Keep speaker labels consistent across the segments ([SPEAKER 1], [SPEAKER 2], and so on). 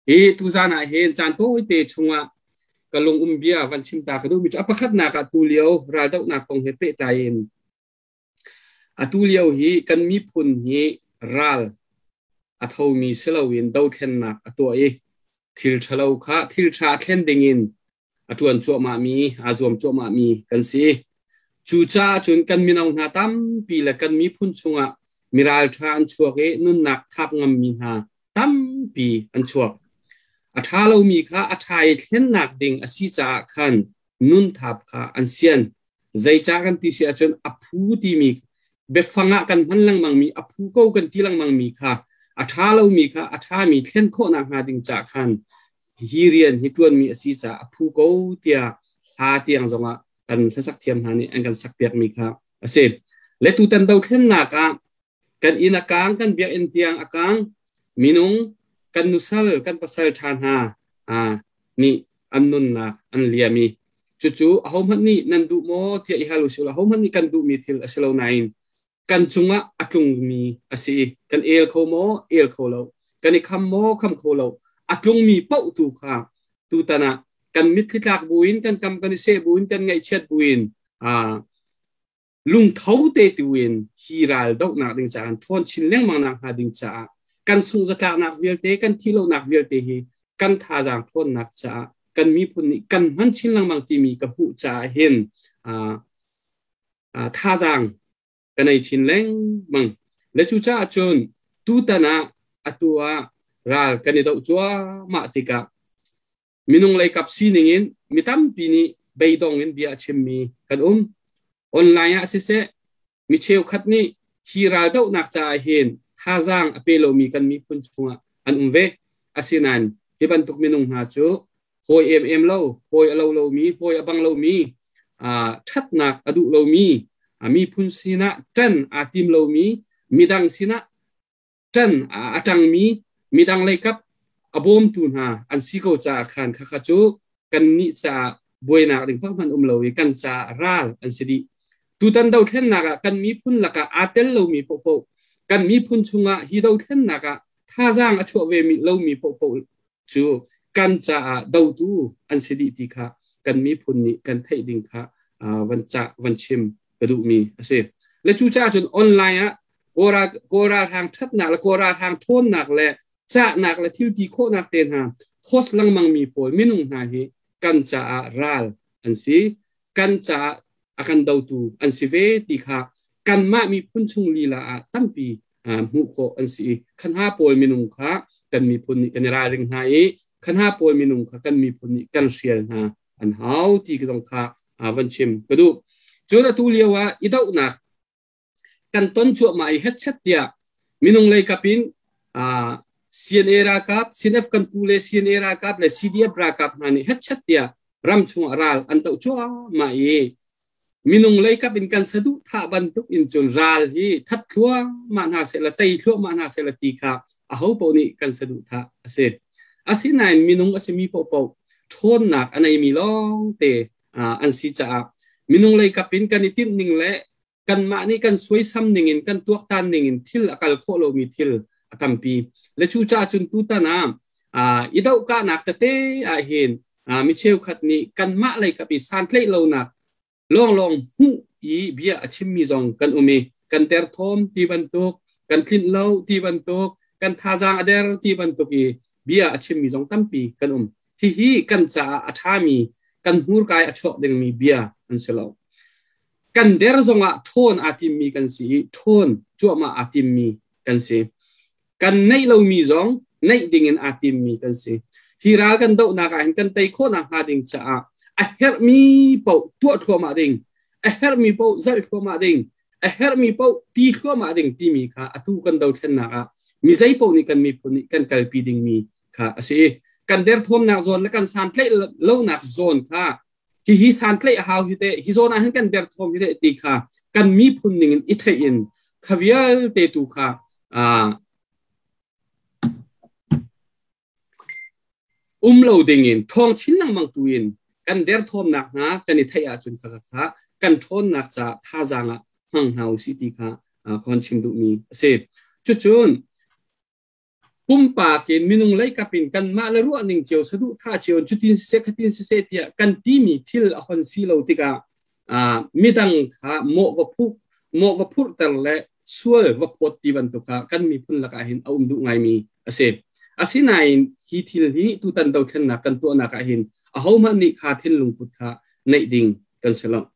[SPEAKER 1] Hi tuzan ah hin caan tawite chungah ka lungum bia van chim ta ka duhmi cu a pakhatnak ah tu lio raldohnak kong he pehtlai in atu lio hi kan miphun hi ral a thomi si loin dothlennak a tuah i thil ṭhalo kha thil ṭha thlen dingin a ṭuan cuahmahmi, aa zuam cuahmahmi kan si. Cucaah cun kan mino hna tampi le kan miphun chungah miral ṭha an chuak i nunnak thap ngammi hna tampi an chuak. A ṭha lomi kha a ṭha i thlennak ding a si caah khan nun thap kha an sian. Zeica kan ti si ahcun a phu timi biafang ah kan hman lengmangmi a phu ko kan ti lengmangmi kha a ṭha lomi kha a ṭhami thlen khawhnak hnga ding ca khan hi rian hi ṭuanmi a si caah a phu ko tiah hla tiang zongah kan hlasak thiam hna nih an kan sakpiakmi kha a si. Le tutan dothlennak ah kan inn a kaang kan biakinn tiang a kaang minung kan nusal kan pasal ṭha hna nih an nunnak an liam i cucu ahohmanh nih nan duh maw tiah i hal usih ahohmanh nih kan duhmi thil a si lo nain kan cungah a tlungmi a si kan el kho maw el kho lo kan i kham maw kham kho lo a tlungmi pauh tu kha tutan ah kan mitthli tlak buin kan kam kan i seh buin kan ngaihchiat buin lungtho te tuin hi ral dohnak ding caah ṭhawn chin lengmang nak hnga ding caah kan sungh zatlaknak vialte kan thi lonak vialte hi kan thazaang ṭhawnnak caah kan miphun nih kan hman chin lengmang timi ka hmuh caah hin thazaang ka nei chin lengmang le cu caah cun tutan ah atu ah ral kan i do cuahmah tikah minung leikap sining in mi tampi nih beidong in bia a chimmi kan um online ah siseh mi cheukhat nih hi raldohnak caah hin thazaang a pe lomi kan miphun chungah an um ve asinain hi bantuk minung hna cu hawi em em lo hawi a lo lomi hawi a bang lomi ṭhatnak a duh lomi miphun sinah ṭan aa tim lomi midang sinah ṭan a ṭangmi midang lei kap a bawmtu hna an si ko caah khan khakha cu kannih caah buainak ding hmanh um lo i kan caah ral an si dih tutan dothlennak ah kan miphun lakah aa tel lomi pohpoh kan miphun chungah hi dothlennak ah thazaang a chuah ve lomi pohpoh cu kan caah dotu an si dih ti kha kan miphun nih kan theih ding kha van ca van chim ka duhmi a si le cu caah cun online ah kawra kawra rang thatnak le kawra rang thawnnak le cahnak le thilti khawhnak te hna post lengmang mi pawl minung hna hi kan caah ral an si kan caah a kan dotu an si ve ti kha kanmah miphun chung lila ah tampi hmuh khawh an si i khan ha pawl minung kha kan miphun nih kan i ralring hna i khan ha pawl minung kha kan miphun nih kan hrial hna an hau ti ka zong kha van chim ka duh cun atu lio ah i dohnak kan ton chuahma i hetchet tiah minung lei kap in CNA ralkap CNF kan pu le CNA ralkap le CDF ralkap hna nih hetchet tiah ram chung ah ral an to chuah ma i Minung leikap in kan saduhthah bantuk in cun ral hi that thluahmah hna sehla tei thluahmah hna sehla ti kha aho paoh nih kan saduhthah a si. Asinain minung a simi paohpaoh ṭhawnnak a neimi lawngte an si caah minung leikap in kan i tinh ning le kanmah nih kan suaisam ningin kan tuaktan ningin thil a kal khawh lomi thil a tampi. Le cucaah cun tutan ah i dohkahnak tete ahhin mi cheukhat nih kanmah lei kap i santlaih lonak lawnglawng hmuh i bia a chimmi zong kan um i kan ter thawm ti bantuk kan tlinh lo ti bantuk kan thazaang a der ti bantuk i bia a chimmi zong tampi kan um hihi kan caah a ṭhami kan hmurkai a chuak dingmi bia an si lo kan der zongah ṭhawn aa timmi kan si i ṭhawn cuahmah aa timmi kan si kan neih lomi zong neih dingin aa timmi kan si. Hi ral kan dohnak ah hin kan tei khawhnak hnga ding caah a herhmi paoh tuah thluahmah ding, a herhmi paoh zalh thluahmah ding, a herhmi paoh ti thluahmah ding timi kha atu kan dothlennak ah mi zeipaoh nih kan miphun nih kan kalpi dingmi kha a si. Kan derthawmnak zawn le kan santlaih lonak zawn kha hihi santlaih a hau hi te hi zawn ah hin kan derthawm hi te ti kha kan miphun ning in i theih in kha vialte tu kha um lo ding in thong chin lengmang tu in kan derthawmnak hna kan i theih ahcun kha kha kan ṭhawnnak ca thazaang ah hmang hna u si ti kha khon chim duhmi a si. Cucun pumpak in minung leikap in kanmah le ruah ning cio saduh thah cio cutin siseh khatin siseh tiah kan timi thil a hon si lo tikah midang kha mawh va phu mawh va phurhter le sual va phawt ti bantuk kha kan miphun lakah hin a um duh ngaimi a si asinain hi thil hi tutan dothlennak kan tuahnak ah hin ahohmanh nih kha thinlung put kha neih ding kan si lo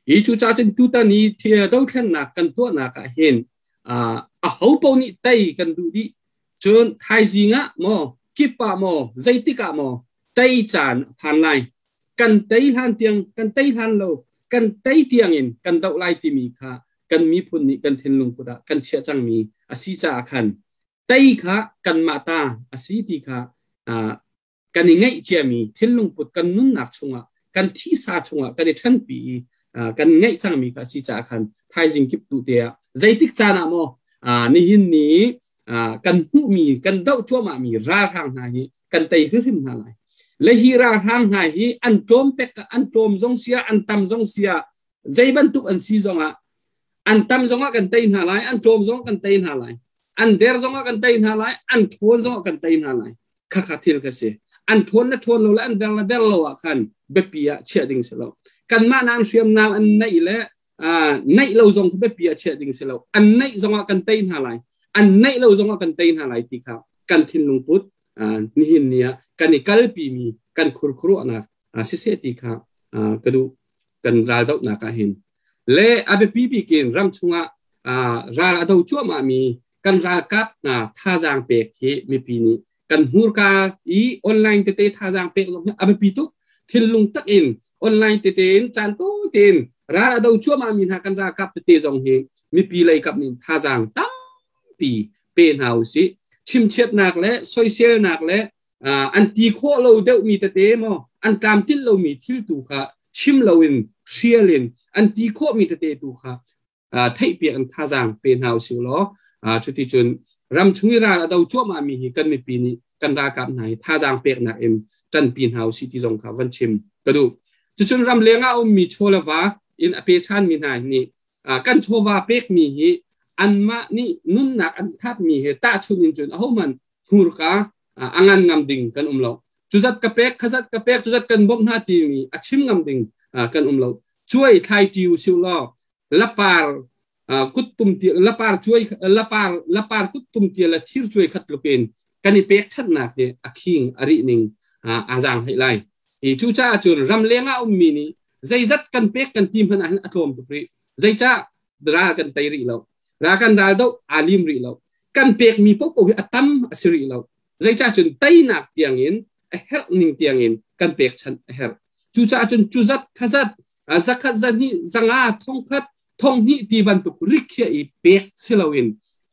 [SPEAKER 1] Hi cu cacun tutan i thil dothlennak kan tuahnak ah hin a ho paoh nih tei kan duh dih cun thaizing ah maw kip ah maw zeitik ah maw tei caan a phan lai kan tei hlan tiang kan tei hlan lo kan tei tiang in kan doh lai timi kha kan miphun nih kan thinlung put ah kan chiah cangmi a si caah khan tei kha kanmah ta a si ti kha kan i ngeihciami thinlungput kan nunnak chungah kan thisa chungah kan i ṭhanpi i kan ngeih cangmi kha si caah khan thaizing kip tu te ah zeitik caan ah maw nihin ni kan hmuhmi kan doh cuahmahmi ralhrang hna hi kan tei hrimhrim hna lai le hi ralhrang hna hi an tlawm pek an tlawm zong sia an tam zong sia zei bantuk an si zongah an tam zongah kan tei hna lai an tlawm zong kan tei hna lai an der zongah kan tei hna lai an ṭhawn zongah kan tei hna lai khakha thil kha si an ṭhawn na ṭhawn lo le an der na der lo ah khan biapi ah chiah ding si lo kanmah nan hriamnam an neih le neih lo zong biapi ah chiah ding si lo an neih zongah kan tei hna lai an neih lo zongah kan tei hna lai ti kha kan thinlung put nihin ni ah kan i kalpi mi kan khurkhuruahnak si se ti kha ka duh kan ral doh nak ah hin le a biapi bikin ram chungah ral a do cuahmah mi kan ralkap hna thazaang pek hi mipi nih kan hmurka i online tete thazaang pek zong a biapi tuk thinlung tak in online tete in caan to tein ral a do cuahmah mi hna kan ralkap tete zong hi mipi lei kap nin thazaang tampi pe hna u si chimchiatnak le soiselnak le an ti khawh lo deuh mi tete mo an tlam til lo mi thil tu kha chim lo in hrial in an ti khawh mi tete tu kha theihpiak in thazaang pe hna usih law cuti cun ram chung i ral a do cuahmahmi hi kan mipi nih kan ralkap hna hi thazaang peknak in ṭanpi hna usih ti zong kha van chim ka duh cucun ram leng ah ummi chawla va in a pe ṭhanmi hna nih kan chawva pekmi hi anmah nih nunnak an thatmi he tahchunh in cun ahohmanh hmurka a ngan ngam ding kan um lo cuzat ka pek khazat ka pek cuzat kan bom hna timi a chim ngam ding kan um lo chuai thlai tiu siu law lapar kut tum tial lapar chuai lapar lapar kut tum tial la thir chuai khat lupen kan i pek chat nak hi a khing a ri ning azang hai lai i cu cha chun ram lenga um mi ni zeizat kan pek kan tim hman a tlawm tuk ri zeicha ral kan tei rih lo ral kan ral do aa lim rih lo kan pekmi popo hi a tam a si rih lo zeicah cun teinak tiangin a herh ning tiangin kan pek chan a herh cucaah cun cu zat khazat zakhat zani zanga thongkhat thonghni ti bantuk rikhiah i pek si loin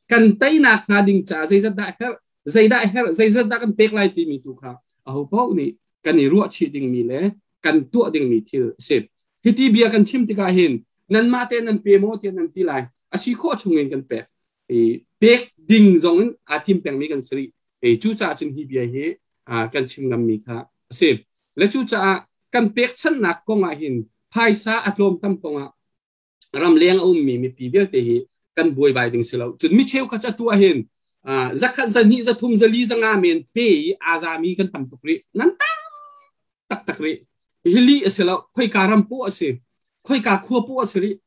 [SPEAKER 1] kan teinak hna ding ca zeizat dah herh zeidah herh zeizat dah kan pek lai timi tu kha ahopaoh nih kan i ruah chih dingmi le kan tuah dingmi thil a si. Hiti bia kan chim tikah hin nanmah te nan pe maw tiah nan ti lai a si khawh chung in kan pek i pek ding zong in aa tim pengmi kan si rih i cucaah cun hi bia hi kan chim ngammi kha a si le cucaah kan pekchanhnak kong ah hin phaisa a tlawm tam kong ah ramleng a ummi mipi vialte hi kan buaibai ding si lo cun mi cheukhat ca tu ah hin zakhat zahnih zathum zali zanga men pe i azami kan tam tuk rih nan tak tak rih hi li a si lo khoika ram pu a si khoika khua pu a si rih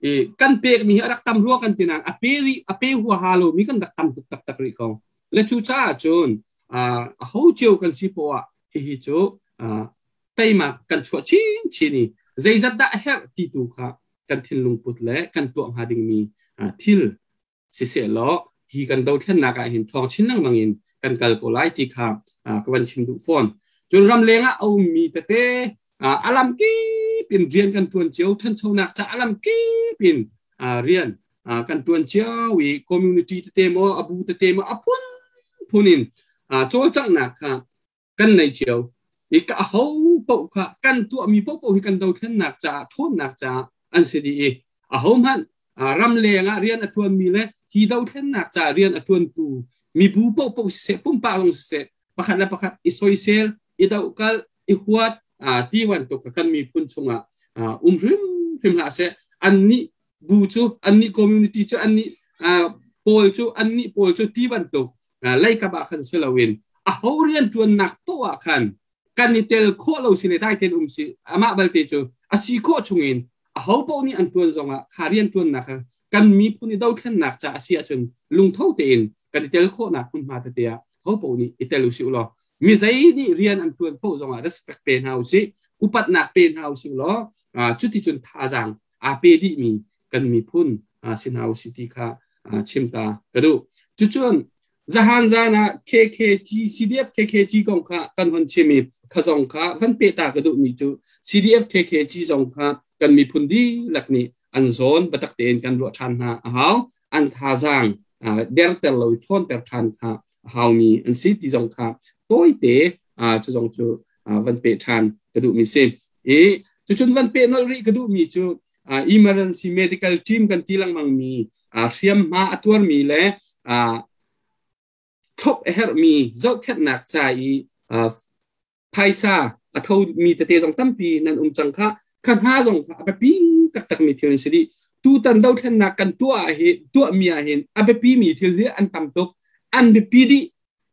[SPEAKER 1] i kan pek mi hi rak tam rua kan tinan a pe ri a pe hua ha lo mi kan rak tam tuk tak tak rih ko le cu cha cun a ho cheu kan si po ah hihi cu teima kan chuah chinchin i zeizat dah a herh ti tu kha kan thinlung put le kan tuah hnga dingmi thil siseh law hi kan dothlennak ah hin thong chin lengmang in kan kal ko lai ti kha ka van chim duh fawn cun ram leng ah a ummi tete alam kip in rian kan tuan cio thanchonak ca alam kip in rian kan tuan cio i community tete mo abu tete mo a phun phun in cawlcanghnak kha kan nei cio i ka ho paoh kha kan tuahmi paohpaoh hi kan dothlennak caah ṭhawnnak caah an si dih i a ho hmanh ram lengah rian a ṭuanmi le hi dothlennak caah rian a ṭuantu mibu paohpaoh siseh pumpak zong siseh pakhat le pakhat i soisel i dokal i huat ti bantuk kan miphun chungah um hrimhrim hlah seh annih bu cu annih community cu annih pawl cu annih pawl cu ti bantuk leikap ah khan si loin a ho rian ṭuannak to ah khan kan i tel khawh lo si le dai ten um si amah balte cu a si khawh chungin a ho paoh nih an ṭuan zongah kha rian ṭuannak kha kan miphun i dothlennak ca a si ahcun lungtho tein kan i tel khawhnak hmunhma tete ah ho paoh nih i tel usih ulaw mi zei nih rian an ṭuan paoh zongah respect pe hna usih upatnak pe hna usih law cuti cun thazaang aa pe dihmi kan miphun si hna u si ti kha chim ta ka duh cucun zahan zan ah KKG CDF KKG kong kha kan hon chim i kha zong kha kan peta ka duhmi cu CDF KKG zong kha kan miphun dihlak nih an zawn batak tein kan ruah ṭhan hna a hau an thazaang derter lo ṭhawnter ṭhan kha a haumi an si ti zong kha tawite cu zong cu van pe ṭhan ka duhmi si i cucun van pe nolh rih ka duhmi cu emergency medical team kan ti lengmangmi hriamhma a tuarmi le thlop a herhmi zohkhenhnak ca i phaisa a thomi tete zong tampi nan um cang kha kha hna zong kha a biapi taktakmi thil an si rih tutan dothlennak kan tuah ah hi tuahmi ah hin a biapimi thil hi an tam tuk an biapi dih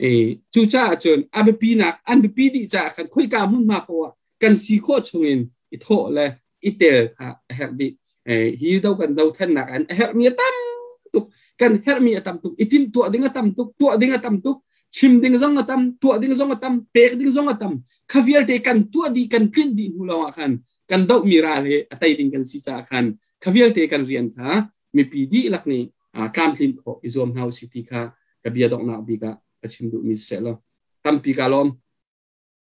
[SPEAKER 1] E, cucaah cun a biapinak an biapi dih caah kan khoika hmunhma poah kan si khawh chungin i thawh le i tel kha a herh dih. E, hi do kan dothannak an a herhmi a tam tuk kan herhmi a tam tuk i timhtuah ding a tam tuk tuah ding a tam tuk chim ding zong a tam tuah ding zong a tam pek ding zong a tam kha vialte kan tuah di kan tlinh dih hnu lawngah khan kan dohmi ral hi a tei ding kan si caah khan kha vialte kan rian kha mipi dihlak nih tlamtlin khawh i zuam hna usih ti kha ka bia donghnak bik ah ka chim duhmi siseh law tampi kaa lawm.